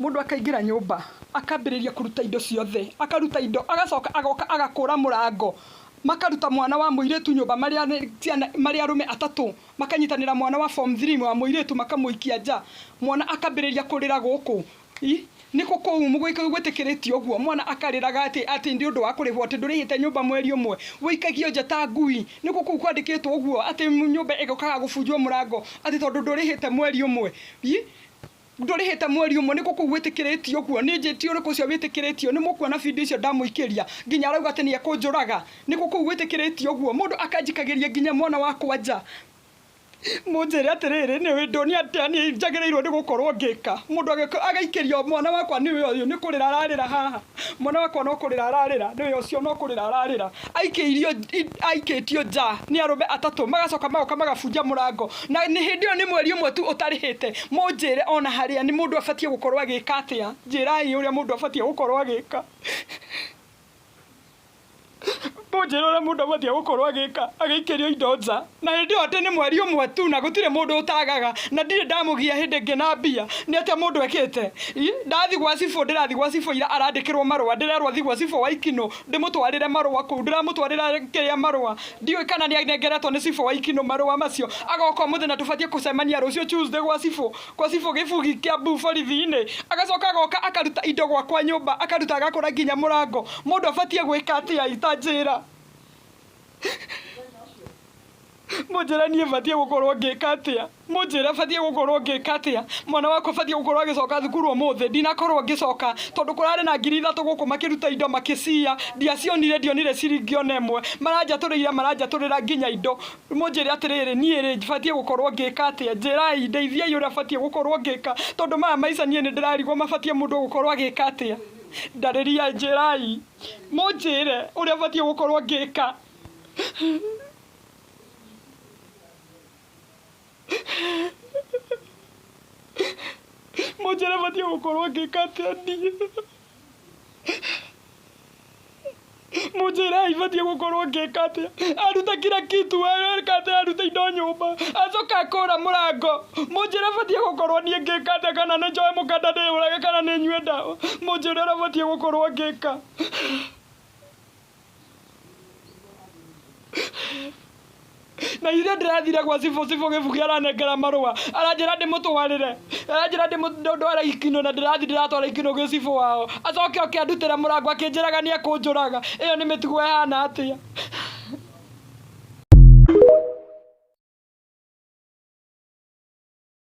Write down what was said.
Mũndũ akaingĩra nyũmba, akambĩrĩria kũruta indo ciothe, akaruta indo, agacoka agoka agakũra mũrango, makaruta mwana wa mũirĩtu nyũmba marĩ a ciana marĩ arũme atatũ, makanyitanĩra mwana wa form three wa mũirĩtu makamũikia nja, mwana akambĩrĩria kũrĩra gũkũ, i, nĩkũ kũu gwĩtĩkĩrĩtio ũguo, mwana akarĩraga atĩ atĩ nĩ ũndũ wa kũrĩhwo atĩ ndũrĩhĩte nyũmba mweri ũmwe, wĩikagio nja ta ngui, nĩkũ kũu kwandĩkĩtwo ũguo atĩ nyũmba ĩgokaga gũbunjwo mũrango atĩ tondũ ndũrĩhĩte mweri ũmwe, i. Ndũrĩhĩte mweri ũmwe nĩkũ kũu wĩtĩkĩrĩtie ũguo nĩ njĩti ũrĩkũ ũcio wĩtĩkĩrĩtio nĩmũkuona video icio ndamũikĩria nginya arauga atĩ nĩekũnjũraga nĩkũ kũu wĩtĩkĩrĩtio ũguo mũndũ akanjikagĩria nginya mwana wakwa nja mũnjĩre atĩrĩrĩ nĩũĩ ndonia atĩa niĩ njagĩrĩirwo nĩ gũkorwo ngĩka mũndũ agaikĩrio mwana wakwa nĩũyũ nĩkũrĩra ararĩra haha. mwana wakwa no kũrĩra ararĩra nĩwe ũcio no kũrĩra ararĩra aikĩirio aikĩtio nja nĩ arũme atatũ magacoka magoka magabunja mũrango na nĩ hĩndĩ ĩyo nĩ mweri ũmwe tu ũtarĩhĩte mũnjĩre ona harĩa nĩ mũndũ abatiĩ gũkorwo agĩka atĩa njĩrai ũrĩa mũndũ abatiĩ gũkorwo agĩka Mũnjĩre ũrĩa mũndũ abatiĩ gũkorwo agĩka agĩikĩrio indo nja, na hĩndĩ ĩyo atĩ nĩ mweri ũmwe tu na gũtirĩ mũndũ ũtagaga, na ndirĩ ndamũgia hĩndĩ ĩngĩ na mbia, nĩ atĩa mũndũ ekĩte? Ii, ndathiĩ gwa cibũ ndĩrathiĩ gwa cibũ ira arandĩkĩrwo marũa, ndĩrerwo thiĩ gwa cibũ Waikino ndĩmũtwarĩre marũa kũu, ndĩramũtwarĩra kĩrĩa marũa, ndiũĩ kana nĩ anengeretwo nĩ cibũ Waikino marũa macio, agoka ũmũthĩ na tũbatiĩ kũcemania rũciũ Tuesday gwa cibũ. kwa cibũ gĩbugi kĩa mbu borithi-inĩ, agacoka agoka akaruta indo gwakwa nyũmba, akaruta agakũra nginya mũrango, mũndũ abatiĩ gwĩka atĩa itanjĩra? Mũnjĩre niĩ batiĩ gũkorwo ngĩka atĩa? Mũnjĩre batiĩ gũkorwo ngĩka atĩa? Mwana wakwa batiĩ gũkorwo agĩcoka thukuru ũmũthĩ? Ndinakorwo ngĩcoka, tondũ kũrarĩ na ngiri ithatũ gũkũ makĩruta indo makĩciya, ndiacionire, ndionire ciringi ona ĩmwe. Maranjatũrĩire, maranjatũrĩra nginya indo. Mũnjĩre atĩrĩrĩ, niĩ-rĩ, batiĩ gũkorwo ngĩka atĩa? Njĩrai, ndeithiai ũrĩa batiĩ gũkorwo ngĩka, tondũ maya maica niĩ nĩndĩrarigwo mabatiĩ mũndũ gũkorwo agĩka atĩa? Ndarĩriai, njĩrai, mũnjĩre ũrĩa batiĩ gũkorwo ngĩka. Mũnjĩre batiĩ gũkorwo ngĩka atĩa niĩ. Mũnjĩrei batiĩ gũkorwo ngĩka atĩa. Aruta kira kitu, eka atĩa aruta indo nyũmba, acoka akora mũrango. Mũnjĩre batiĩ gũkorwo niĩ ngĩka atĩa kana nĩ njoe mũkanda ndĩyũrage kana nĩ nyue ndawa. Mũnjĩre ũrĩa batiĩ gũkorwo ngĩka. na ithuĩ ndĩrathire gwa cibũ cibũ gĩbugi aranengera marũa aranjĩra ndĩmũtwarĩre aranjĩra ndĩmũtware ikino na ndĩrathi ndĩratwara ikino gwĩ cibũ wao acoke oke andutĩre mũrango akĩnjĩraga nĩ ekũnjũraga ĩyo nĩ mĩtugo ĩhana atĩa